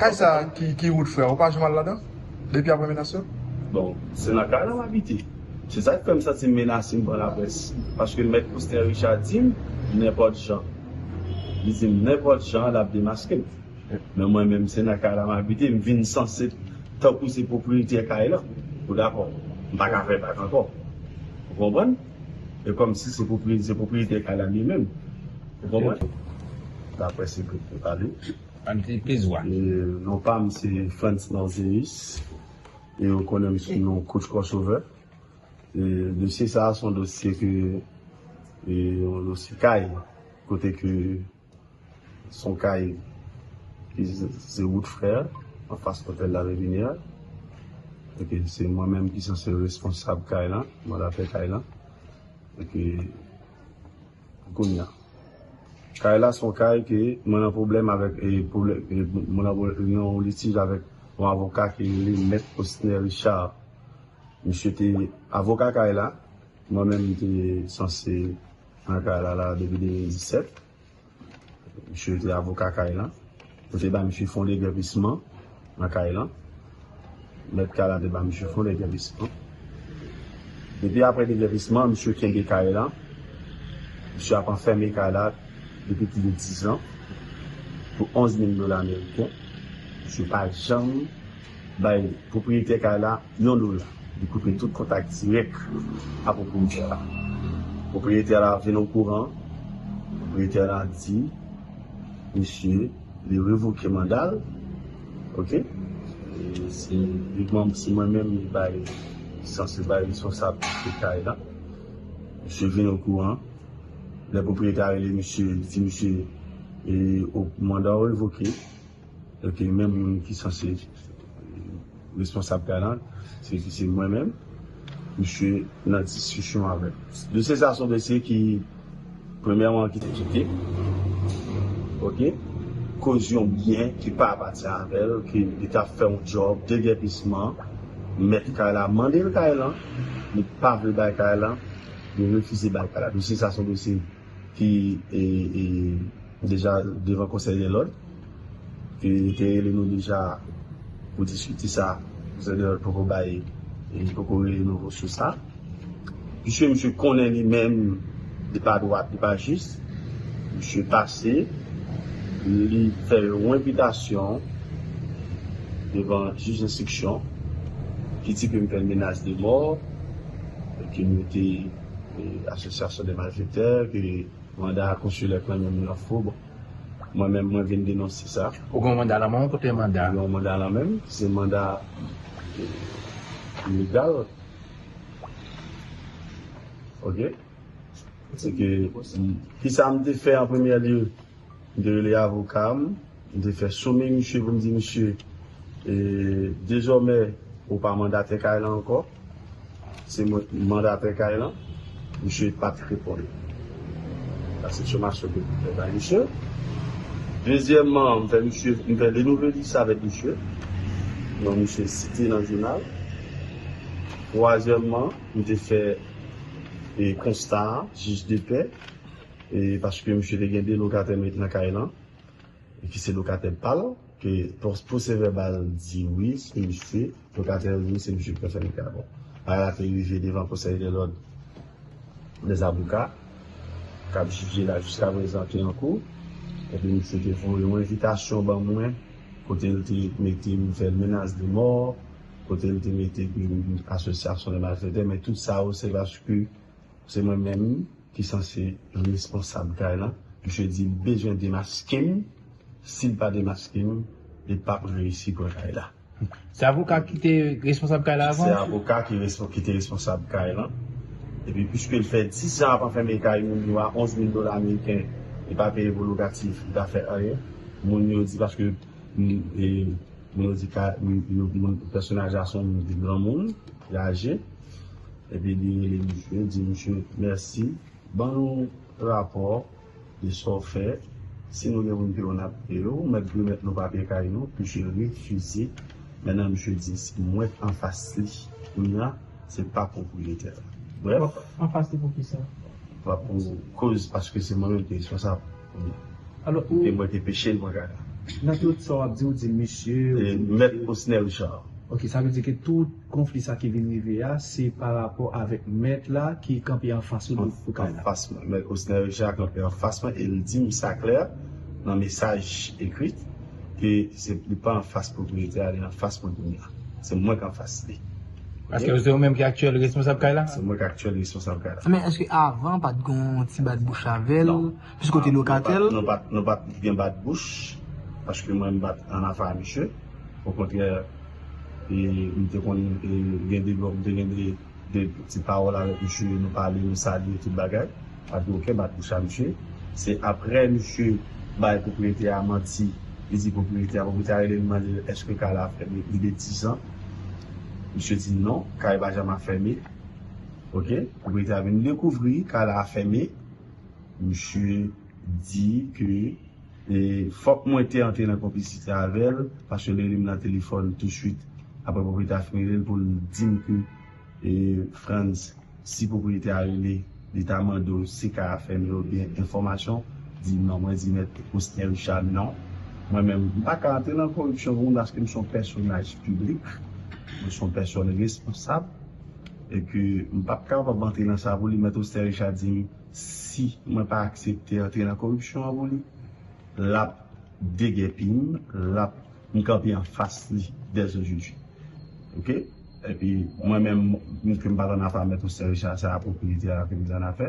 Kay sa ki wout frè ou pa janm al ladan depi aprè menas yo? Bon se nan kay la m abite se sak fè m santi menase m pran laprès paske mèt Poustin Richard di m nenpòt jan li di m nenpòt jan l ap demaske m men mwen menm se nan kay la m abite m vin sanse tankou se pwopriyetyè kay lan ou dakò m pa ka fè bak ankò ou konprann e kòmsi se pwopriyetyè kay la li menm ou konprann laprès ekriti pale. Pam se plis wa. Non pam se Frantz Norzeus e yo konnen m sou non Coach Crossover. Dosye sa a se yon dosye ke yon dosye kay kote ke se yon kay ki se wout frere an fas Hotel La Reviniere e ke se mwen menm ki sanse responsab kay lan, mandatè kay lan e ke. Kounya kay la son kay ke mwen nan pwoblèm avèk mwen nan yon litij avèk yon avoka ki rele mèt Osner Richard misye te avoka kay la mwen menm m te sanse nan kay la la depi 2017 misye te avoka kay la. Yo te ba m chifon degèpisman nan kay lan. Mèt kay la te ba m chifon degèpisman. Depi apre degèpisman, misye kenbe kay lan. Misye ap anfème kay la depi plis dizan pou 11 mil dola meriken. Misye pa janm. Bay pwopriyetè kay la yon dola, li koupe tout kontak dirèk a pwopriyetè la. Pwopriyetè la vin okouran, pwopriyetè la di misye li revoke manda l, ok, se li banm, se mwen menm li bay, li sanse bay responsablite kay la, misye vin okouran, lè pwopriyetè a rele misye, li di misye manda w revoke. Ok men moun ki sanse responsab kay lan se ki se mwen menm misye nan diskisyon avèm de se sa son de se ki premyèman ki te kite ok koz yon byen ki pa apati avèl ki li tap fè yon djòb degèpisman mèt kay la mandel kay lan li pa vle bay kay lan li refize bay kay la de se sa son de se. ki deja devan konsèy de lòd e li te rele nou deja pou diskite sa konsèy de lòd poko bay li poko rele nou sou sa misye misye konnen li menm li pa dwat li pa jis misye pase li fè yon enpitasyon devan jij enstriksyon ki di ke m fè menas de mò e ke m te Asosyasyon de malfektè ke manda konsilè klanmen moun an fo bon mwen menm mwen vin denonse sa. Ou gen yon manda lan men w kote manda? Mwen gen yon manda lan men m ki se manda legal ok se ke kisa m te fè an premyè lye. M te rele avoka m, m te fè some misye pou m di misye e dezòmè ou pa mandatè kay lan ankò, se mwen ki mandatè kay lan, misye pa t reponn. Sa se somasyon ke m te fè bay misye. Dezyèmman, m fè misye, m fè de nouvèlis avèk misye, non misye site nan jounal. Twazyèmman, m te fè e konsta a, jij de pè. e paske misye te gen 2 lokatè met nan kay lan e ki se lokatè pal ke pwosè vèbal di wi se misye lokatè yo di wi se misye ki fè fèmite ya bon bagay la te rive devan konsèy de lòd de zaboka kap jije la jiska prezan ki an kou epi misye te voye yon envitasyon ban mwen kote li te mete m fè menas de mò kote li te mete m asosyasyon de malfèktè men tout sa yo se paske Se mwen menm ki sanse responsab kay lan, misye di li bezwen demaske m, si l pa demaske m, li p ap reyisi pran kay la. Se avoka ki te responsab kay la avan? Se avoka ki te responsab kay lan, epi piske l fè 10 an ap anfème kay moun yo a 11 mil dola ameriken, li pa peye pou lokatif, li pa fè anyen, moun yo di paske. Pèsonaj la se yon moun ki granmoun, ki aje, epi li rele misye, li di misye, mèsi, ban nou rapò de sa w fè, si nou gen pou nou peye w, n ap peye w, mèt remèt nou papye kay nou, misye refize, mèt misye di, mwen k anfas li, kounye a, se pa pwopriyetè la. Brèf. Anfas li pou kisa? Pou koz paske se mwen menm ki responsab. E mwen te peche devan Gad. Nan tout sa w ap di, ou di misye. E mèt Osnèl Jan. Ok, sa vle di ke tout konfli sa ki vin rive a, se pa rapò avèk mèt la ki kanpe anfas ou pou kay la. Anfas mwen. Mèt Osnèl Jan kanpe anfas mwen e li di m sa klè nan mesaj ekri ke se li pa anfas pwopriyetè a, li anfas mwen kounya. Se mwen ki anfas li. Aske se ou menm ki aktyèl responsab kay la? Se mwen ki aktyèl responsab kay la. Men eske avan pat gon ti bat bouch avèl? Non. Piske ou te lokatèl? Non pat, nou pat gen bat bouch, paske mwen m pat an afe a misye. Okontrè, e m te konn gen de, m te gen de ti pawòl avèk misye, nou pale, nou salye, tout bagay. Pa gen oken bat pou cha misye. Se aprè misye bay pwopriyetè a manti, li di pwopriyetè a, pwopriyetè a rele li mande l èske kay la ap fèmen li gen dizan. Misye di non, kay pa janm ap fèmen. Ok, pwopriyetè a vin dekouvri kay la ap fèmen. Misye di ke e fòk mwen te antre nan konplisite avè l paske li rele m nan telefòn tousuit aprè pwopriyetè a fin rele l pou l di m ke Frantz, si pwopriyetè a rele, li ta mande w si kay a fèmen oubyen enfòmasyon, di non. Mwen di mèt Osner Richard non. Mwen menm, m pa ka antre nan koripsyon pou moun paske m se yon pèsonaj piblik, mwen se yon pèsòn responsab e ke m p ap kapab antre nan sa pou li. Mèt Osner Richard di m si mwen pa aksepte antre nan koripsyon an pou li, l ap degèpi m, l ap, m kanpe anfas li dèzojodi. Ok. Epi mwen menm m ke m pa t annafè mèt osè Richard sa a pwopriyetè a vin annafè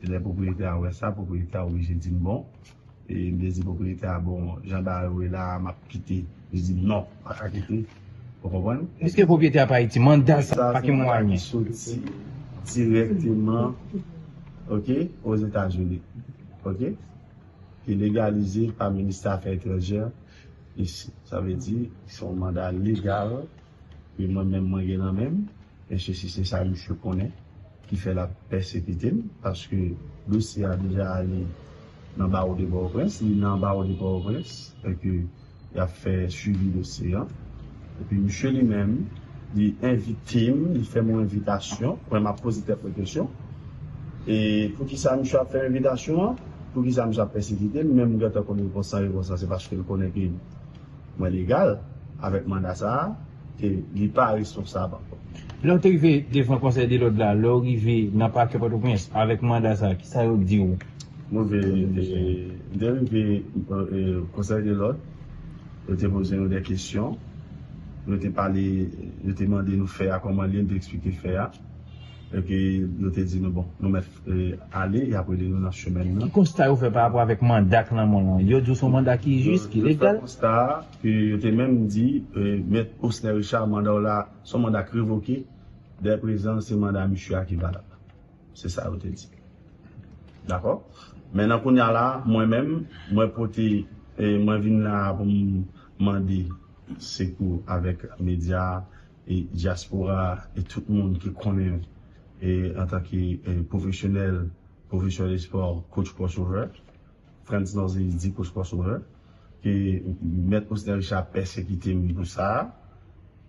e lè pwopriyetè a wè sa pwopriyetè a oblije di m bon e m te di pwopriyetè a bon jan bagay yo ye la a m ap kite li di m non m pa ka kite ou konprann. Eske pwopriyetè a pa Ayiti? Manda sa a pa gen mwayen. Sa se manda ki soti dirèkteman ok Ozetazini ok ki legalize pa Ministè Afè Etranjè isi sa vle di se yon manda legal. Wi mwen menm mwen gen nan menm mesye si se sa misye konnen ki fè lap pèsekitem paske dosye a deja ale nan bawo de pòtoprens li nan bawo de pòtoprens e ke yap fè swivi dosye an e pi misye li menm li envitem li fèm yon envitasyon mwen map poze tèt mwen kesyon e poukisa misye ap fèm envitasyon an poukisa misye ap pèsekitem menm mwen gentan konn repons lan repons lan se paske l konnen ke. Mwen legal avèk manda sa a ke li pa responsab ankò. Lè ou te rive devan konsèy de lòd la, lè ou rive nan pakè Pòtoprens avèk manda sa a, ki sa yo di ou? Mwen te rive konsèy de lòd, yo te poze nou de kesyon, yo te pale, yo te mande nou fè a kòman li ye, nou te eksplike fè a, epi yo te di nou bon, nou mèt fè. ale, y ap rele nou nan chemen nan. Ki konsta yo fè pa rapò avèk manda k lanmò lan? Yo di w se yon manda ki jis, ki legal? Yo fè konsta a, ke yo te menm di mèt Osner Richard manda w la, se yon manda k revoke, dè prezan se manda misye a ki valab. Se sa yo te di. Dakò? Men nan kounya la, mwen menm, mwen pote, mwen vin la pou m mande sekou avèk medya a, e dyaspora a e tout moun ki konnen l e antanke pwofesyonèl pwofesè lespò coach crossover Frantz Nozy di coach crossover ke mèt Osner Richard pèsekite m pou sa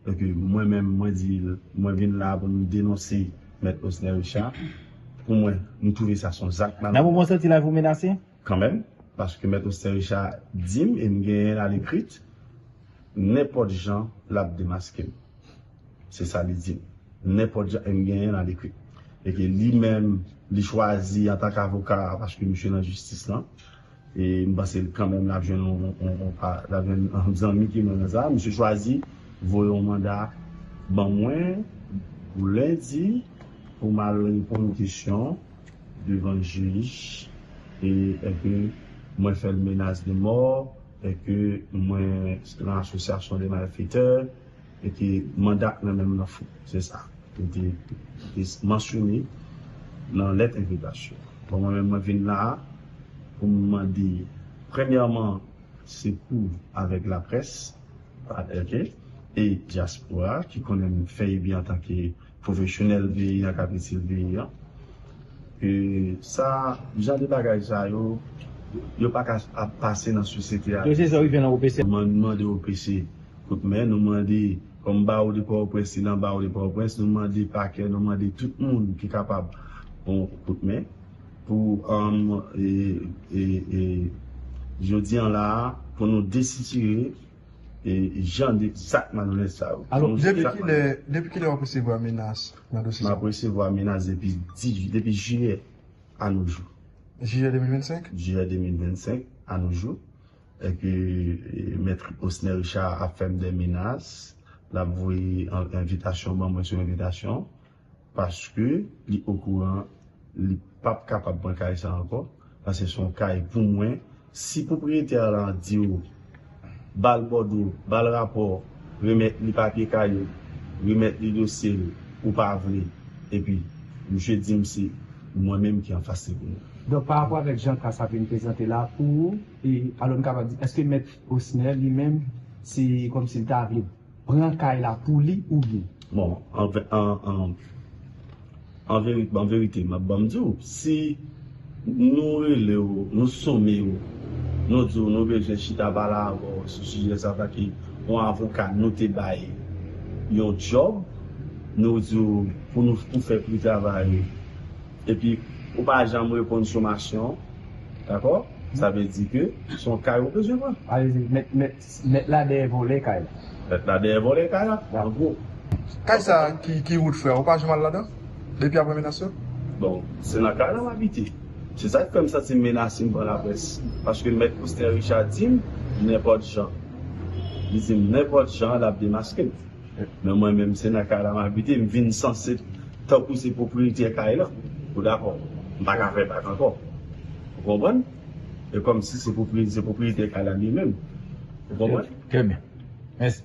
e ke mwen menm mwen di l mwen vin la pou m denonse mèt Osner Richard pou mwen nou twouve sa s on zak malandren. Nan moman w santi lavi w menase? Kanmenm, paske Mèt Osten Richa di m e m genyen l alekrit, nenpòt jan l ap demaske m. Se sa li di m. Nenpòt jan, e m genyen l alekrit. E ke li menm, li chwazi antank avoka, paske misye nan jistis lan, e m panse l kanmenm l ap jwenn yon zanmi ki menm nan sa, misye chwazi voye yon manda ban mwen pou lendi pou m al reponn kesyon. devan jij e ke mwen fè l menas de mò e ke mwen lan asosyasyon de malfetè e ke manda k nan men m lan fo. Se sa li te mansyone lan lèt envitasyon an. Bon mwen menm mwen vin la a pou m mande premyèman sekou avèk laprès, ok, e dyaspora ki konnen m fè ebi antanke. Pwofesyonèl peyi a k ap itil peyi a. E sa, jan de bagay sa yo, yo pa ka ap pase nan sosyete Ayisyen. Dosye sa rive nan OPC. Nou mande OPC kout men, nou mande kòm Bawo de Pòtoprens li nan Bawo de Pòtoprens, nou mande Pakè, nou mande tout moun ki kapab yon kout men pou jodi an la a pou nou desitire. e jan de zak malonèt sa yo. Alò, depi kilè wap resevwa menas nan dosye sa? Map resevwa menas depi jiyè a nou jou. Jiyè 2025? Jiyè 2025 a nou jou. E ke mèt Osner Richard ap fèm de menas, lap voye envitasyon ban mwen sou envitasyon. Paske li okouran li pap kapab pran kay sa ankò paske se yon kay pou mwen si pwopriyetè a lan diw bal bòdwo bal rapò remèt li papye kay ou remèt li dosye l ou pa vle epi misye dim se mwen menm ki anfas li pou mwen. Donk pa rapò avèk jan ka sa vin prezante la pou ou e alò m kapab di eske mèt Osner li menm se kòmsi l ta vle. Pran kay la pou li oubyen. Bon an verite map banm di w si nou rele w nou some w nou di w nou bezwen chita pale avè w sou sijè sa pake yon avoka nou te bay yon djòb nou di w pou nou pou fè pri travay ou epi ou pa janm reponn somasyon dakò sa vle di ke son kay ou bezwen pran. Alezi mèt mèt. Mèt la dèyè vòlè kay la. Mèt la dèyè vòlè kay la. Gal gwo. Kay sa ki rout frè ou pa janm al ladan depi aprè menas yo? Bon se nan kay la m abite. Se sa k fè m santi m menase m pran laprès. Paske mèt Osten Richa di m nenpòt jan. Li di m nenpòt jan l ap demaske m. Men mwen menm se nan kay la m abite m vin sanse tankou se pwopriyetyè kay lan. Ou dakò? M pa ka fè bak ankò. Ou konprann? E kòmsi se pwopriyetè se pwopriyetè kay la li menm. Ou konprann? Trè byen. Mèsi.